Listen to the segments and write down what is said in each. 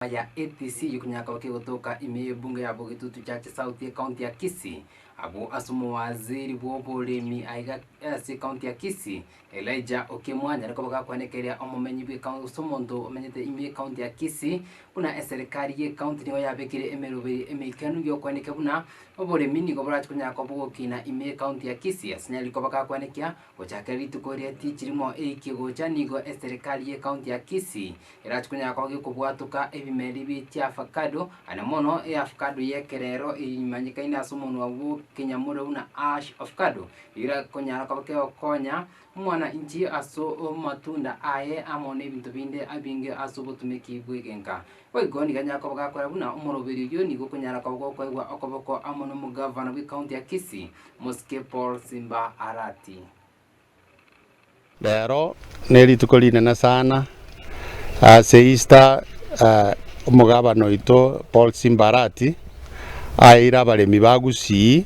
Enyomba ya APC y'okonyakoa kegotoka ime y'ebunge ya Bogetutu Church South y'ekaunti ya Kisii. Abwo ase omowaziri bw'oboremi aiga ase ekaunti ya Kisii, Elijah Okemwa nyare koba gakwanekeria omomenyi bw'ekaunti gose omonto omenyete ime y'ekaunti ya Kisii buna eserekari y'ekaunti nigo yabekire emeroberi emeikanu y'okwanekia buna oboremi nigo borache konyakoa bogokina ime y'ekaunti ya Kisii. Ase nyare koba gakwanekia Gochakera rituko ria Tichirimo eike gocha nigo eserekari y'ekaunti ya Kisii erache konyara koba gekobwatuka ebimeri bie chi'avacado, aye na mono eavacado y'ekerero eye emanyekaine ase omonwa bw'okenyamura buna Ash Avocado, eyio erakonyara koba kegokonya omwana inche ase amatunda aye amo na ebinto binde ebinge ase obotumeki bw'egenka. Boigo nigo anyare koba gakora buna omoroberi oyio nigo okonyara koba gokoegwa okoboko amo nomogavana bw'ecounty ya Kisii, Mosike Paul Simba Arati. Rero nerituko rinene sana ase Easter omogavana oito Paul Simba Arati aeire abaremi ba Gusii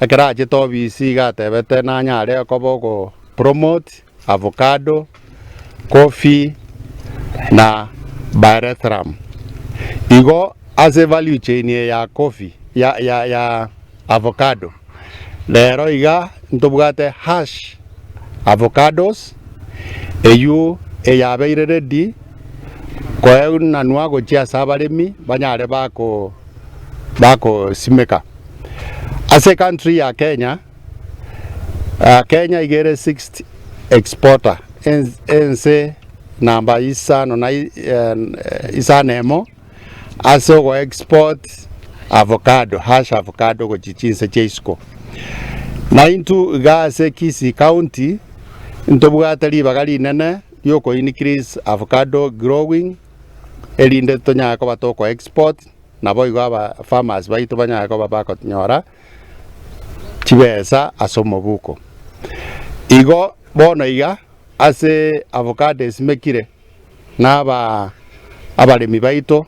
Ekero achete obisi iga atebete nanyare okoba ogo promote avocado, coffee na pyrethrum. Igo ase value chain eye ya coffee ya ya ya avocado rero iga ntobwate Hash Avocados eywo eyabeire ready koeunanwa gochia ase abaremi banyare bako. bakosimeka ase country ya Kenya, Kenya iga ere sixth exporter ense namba isano na isano emo ase ogo export avocado hass avocado gochia chinse chia isiko na intwe iga ase Kisii county ntobwate ribaga rinene riokoincrease avocado growing. erinde tonyare koba toko-export, naboigo abafarmers baito banyare koba bakonyora chibesa ase omobuko. Igo bono iga ase avocado esimekire na abaremi baito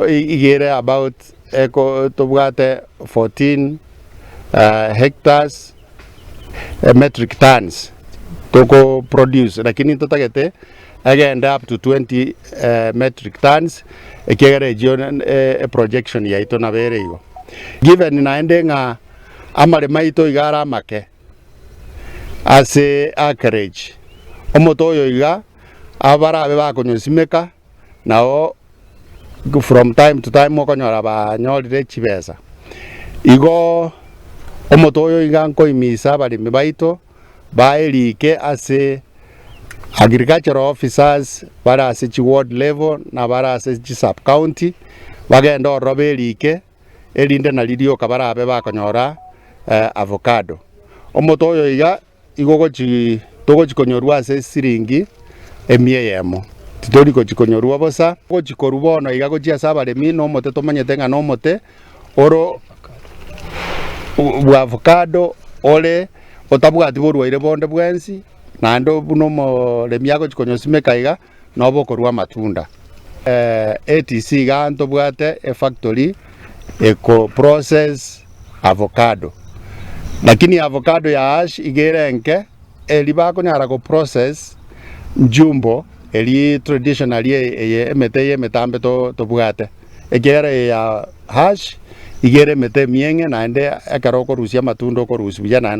iga ere about tobwate fourteen hectares. metric tons toko produce lakini totagete egende up to 20 metric tons ekiagera echio e projection yaito nabo ere igo given naende ng'a amaremo aito iga are amake ase acreage omoto oyo iga abarabe bakonyosimeka. nabo from time to time okonyora banyorire chibesa, igo omoto oyo iga nkoimisa abaremi baito baye rike ase agricultural officers bare ase chi ward level na bare ase chi sub county bagende ororo berike erinde nari rioka barabe bakonyora avocado, omoto oyo iga Igo togochia konyorwa ase esiringi emia eyemo, titori gochia konyorwa bosa. Gochia korwa bono iga gochia ase abaremi na omote tomanyete ng'a na omote ore bwa avocado ore otabwati borwaire bonde bwensi naende buna omoremi agochia konyosimeka iga. nobokorua amatunda. Etc iga ntobwate efactory eko process avocado lakini avocado ya ash iga ere enke eri bakonyara ko process njumbo eri traditionally eye emete eye emetambe tobwate ekiagera eye ya ash iga ere emete emieng'e naende ekero okorusia amatunda okorusia buya naende.